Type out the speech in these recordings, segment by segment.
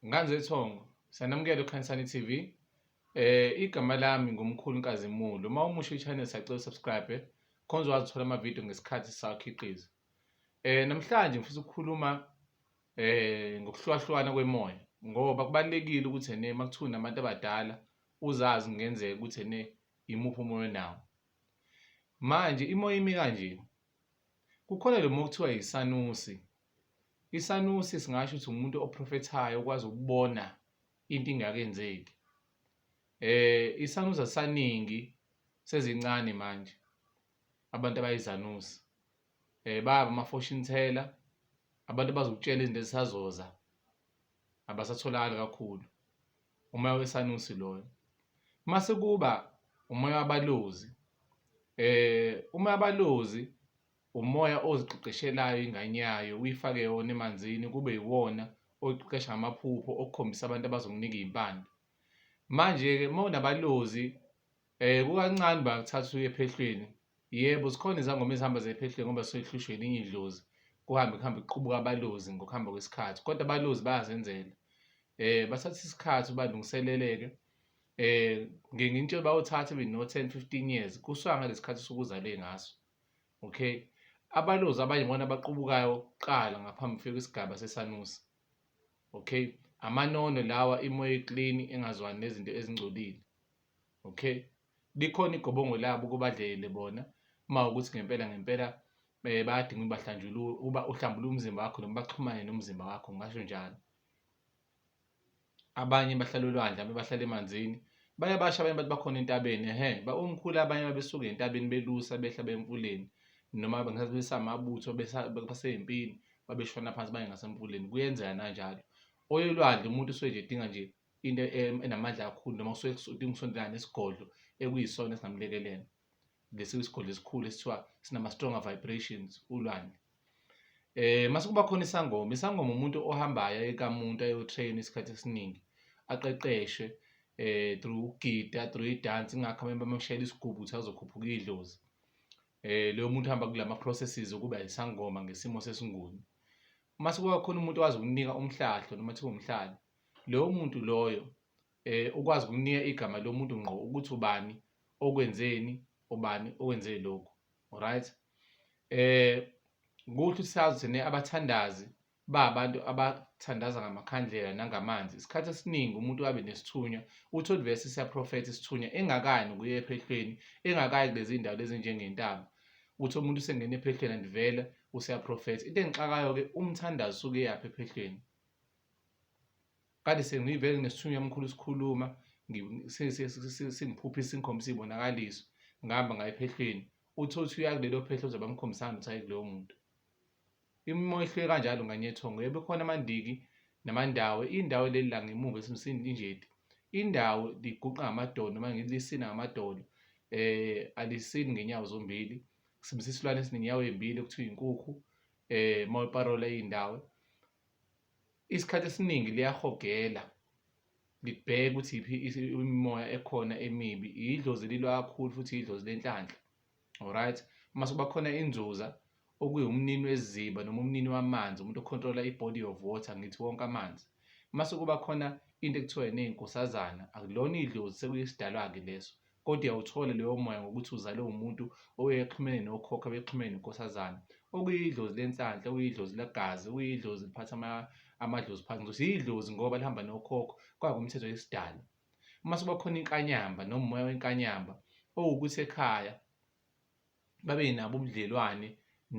Nganzethongo, Sanamukela uKhanyisani TV. Eh igama lami ngumkhulu Nkazimulo. Uma umusha i-channel sacela subscribe khonze wazithola ama-video ngesikhathi sakhiqiza. Eh namhlanje ngifisa ukukhuluma eh ngokuhlukahlukana kwemoya ngoba kubalekile ukuthi ene makuthiwa nabantu abadala uzazi kungenzeka ukuthi ene imuphi umoya nawo. Manje imoya imi kanje Kukhona lo mokuthiwa yisanusi. Isanusi singasho ukuthi umuntu oprofethayo okwazi ukubona into ingakenzeki. Eh isanusi asaningi sezincane manje abantu abayizanusi. Eh baba ama-fortune teller abantu abazokutshela izinto ezisazoza abasatholakali kakhulu. umoya wesanusi loyo mase kuba umoya wabalozi eh umoya wabalozi umoya oziqeqeshelayo ingane yayo uyifake yona emanzini kube yiwona oqeqesha amaphupho okukhombisa abantu abazokunika izimpande manje ke mawunabalozi eh kukancane bakuthatha uye ephehlweni Yebo, zikhona izangoma ezihamba zephehlwe ngoba zisuke zihlushwe elinye idlozi, kuhambe kuhambe kuqubuke abalozi ngokuhamba kwesikhathi kodwa abalozi bayazenzela. Bathatha isikhathi uba balungiselele-ke ngenye into bayothatha maybe no-ten, fifteen years kusuka ngalesi khathi osuke uzale ngaso, okay. Abalozi abanye ibona abaqubukayo kuqala ngaphambi kufike kwisigaba sesanusi, okay. Amanono lawa imoya e-clean engazwani nezinto ezingcolile, okay. Likhona igobongo labo kubadlele bona uma ukuthi ngempela ngempela eh, bayadinga ukuba hlanjululwe uba uhlambule umzimba wakho noma baxhumane nomzimba wakho ngasho njalo abanye bahlala olwandle abanye bahlala emanzini baye basha abanye bathi bakhona entabeni ehe umkhulu abanye babesuke entabeni belusa behla bemfuleni noma ngesikhathi besamabutho basey'mpini babeshona phansi baye ngasemfuleni kuyenzeka nanjalo oyolwandle umuntu usuke nje edinga nje into enamandla kakhulu noma kusuke kudinga ukusondelana nesigodlo ekuyisona esingamlekelela lesi isigodlo esikhulu esithiwa sinama-stronger vibrations ulwandle eh mase kuba khona isangoma isangoma umuntu ohambayo ekamuntu ayotrain isikhathi esiningi aqeqeshwe eh through ukugida through idance ingakho abantu bamshayela isigubu ukuthi azokhuphuka idlozi eh leyo muntu uhamba kulama processes ukuba isangoma ngesimo sesinguni mase kuba khona umuntu owazi ukunika umhlahlo noma thiwa umhlahlo loyo muntu loyo eh ukwazi ukunika igama lomuntu ngqo ukuthi ubani okwenzeni ubani owenze lokhu right eh kuthi sazi thina abathandazi ba abantu abathandaza ngamakhandlela nangamanzi isikhathi esiningi umuntu wabe nesithunywa uthi olivesi siyaprofetha isithunywa engakani kuye ephehlweni engakayi kulezi ndawo lezi njengentaba uthi umuntu usengena ephehlweni andivela useyaprofetha into engixakayo-ke umthandazi usuke yaphi ephehlweni kade sengiyivele ngesithunywa mkhulu sikhuluma singiphuphisa ingikhombisa iy'bonakaliso ngihamba ngayo ephehlweni uthi othi uya kulelo phehlo ozobe amkhombisana ukuthi aye kuloyo muntu imimoya ihlule kanjalo nganyethongo yebo khona amandiki namandawo indawo leli la ngemuva esimsini injeti indawo liguqa ngamadolo noma ngilisina ngamadolo eh alisini ngenyawo zombili kusebenzisa isilwane esinenyawo ezimbili okuthiwa inkukhu eh mawuparola indawo isikhathi esiningi liyahogela libheke ukuthi iphi imimoya ekhona emibi idlozi lilwa kakhulu futhi idlozi lenhlanhla alright uma sekuba khona inzuza okuyiwumnini weziba noma umnini wamanzi umuntu okhontrola i-body of water ngithi wonke amanzi uma sekuba khona into ekuthiwa yini inkosazana akulona idlozi sekuyisidalwa-ke leso Kodwa uyawuthola loyo moya ngokuthi uzalwe umuntu oyexhumene nokhokho abexhumene nenkosazana okuyidlozi lenhlanhla okuyidlozi legazi okuyidlozi liphatha amadlozi phansi ngizothi yidlozi ngoba lihamba nokhokho kwakumthetho yesidalo uma sekuba khona inkanyamba nomoya wenkanyamba owukuthi ekhaya babe nabo ubudlelwane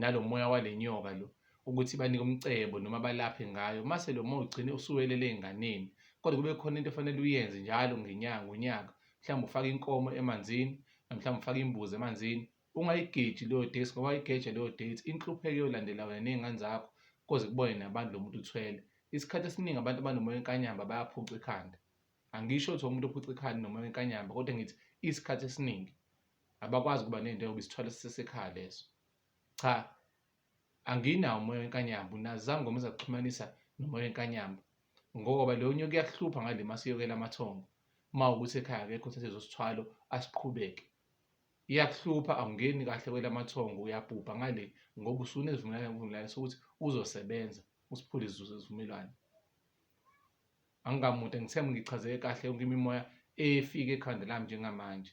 nalo moya wale nyoka lo ukuthi banike umcebo noma balaphe ngayo mase lo moya ugcine usuwelele ey'nganeni kodwa kube khona into efanele uyenze njalo ngenyanga ngonyaka mhlawumbe ufake inkomo emanzini mhlawumbe ufake imbuzi emanzini ungayigeji leyo date ngoba wayigeja leyo date inhlupheko yolandela wena ney'ngane zakho koze kubone nabantu lo muntu uthwele isikhathi esiningi abantu abanomoya wenkanyamba bayaphuca ikhanda angisho ukuthi umuntu ophuca ikhanda nomoya wenkanyamba kodwa ngithi isikhathi esiningi abakwazi ukuba nento yokuba isithwalo sisesekhaya leso cha anginawo umoya wenkanyamba unazama ngoba uzakuxhumanisa nomoya wenkanyamba ngoba leyo nyoka iyakuhlupha ngale masiyokela amathongo uma ukuthi ekhaya akekho uthathe zosithwalo asiqhubeke iyakuhlupha awungeni kahle kwelamathongo uyabhubha ngale ngoba usunezivumelwano sokuthi uzosebenza usiphule izivumelwano angikamude ngithemba ngichazeke kahle yonke imimoya efike ekhanda lami njengamanje